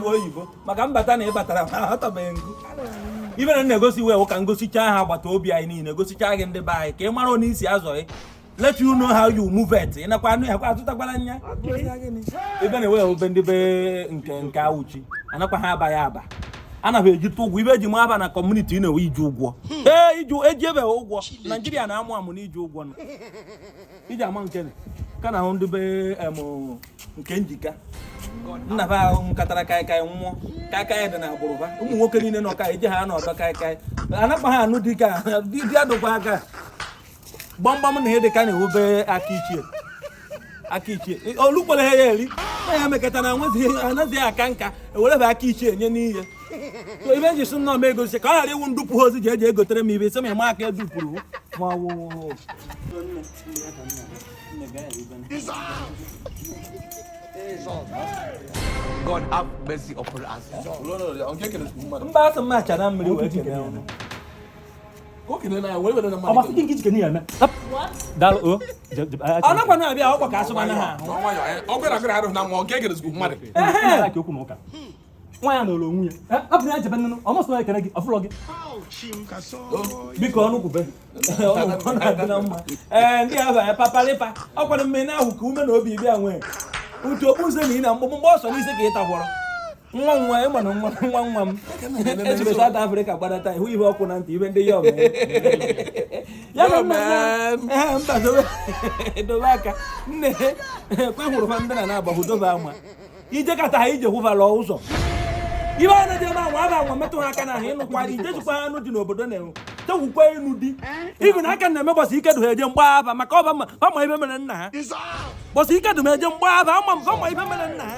oyibo maka mbata na ị batara ma ahọtabeghị ngụ ibe na na-egosi iwe ka m gosichaa ha agbata obi anyị niile gosichaa gị ndị be anyị ka ị mara onye isi azọghị let you know how you move it ị nakwa anụ ya kwa azụtakwala nya ebe na-ewe obe ndị be nke nke awuchi anakwa ha aba ya aba anaghị ejite ụgwọ ibe eji m aba na kọmuniti ị na-ewe iji ụgwọ hmm. ee iji eji ebe ụgwọ naijiria na-amụ amụ na iji ụgwọ iji ama nke ka na ahụ ndị be nke njika nna be ahụ ṅụkatara kaikai nwụọ kaikai dị n'agbụrụ ha ụmụ nwoke niile nọ ka eji ha n'ọdọ kaikai anakpa ha anụ dike a di adụkwa aka gbamgbam na ihe dị ka na-ewube aka ichie aka ichie o lukwere ha ya eri na ya mekọta na anaghị aka nka ewerebe aka ichie nye n'ihe so ibe eji sị nna m egosi ka ọ ghara iwu ndupụ ha ozi ji eji egotere m ibe isi ma ịma aka edupụrụ ma ọ wụ God have mercy upon us. mba asị m achara mmiri wee kene ọnụ anakwa na-abịa akwụkwọ ka asụba na ha nwaanyị nọrọ onwe ya eh, hapụ ya jebe nnụnụ ọ masịrị ekele gị ọ fụlọ gị biko ọnụ kwube ee ndị ahụ ya papalipa ọkwado mmiri ahụ ka ume na obi bịa nwee utu okpu nze na ị na mgbọmgbọ ọsọ n'isi ka ị tagwọrọ nwa nwa ịma na nwa nwa nwa m ejiri South Africa gbadata ihu ihe ọkụ na ntị ibe ndị ya mba dobe aka nne kwe hụrụ fa ndị na na-agbahụ dobe ama ije kata ha ije hụvala ụzọ ibe a na-eje ebe anwa aba anwa metụ ha aka n'ahụ ị nụkwara ijejikwa anụ dị n'obodo na-enwe tewukwa enu di ibi na aka na-eme mbọsị ike dụ ha eje mgba aba maka ọba ma ma ibe mere nna ha mbọsị ike dụ m eje m gbaa aba ama mba ma ibe mere nna ha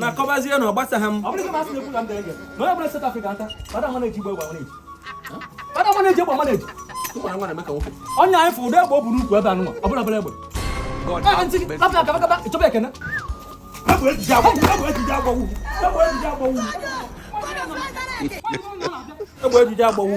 na akọbazie na ọ gbasaghị m onye anyị fụrụ ụdị egbe o bu n'ukwu ebe anụnwa ọbụla bụla egbe chọba ekene egbe ejije agbawu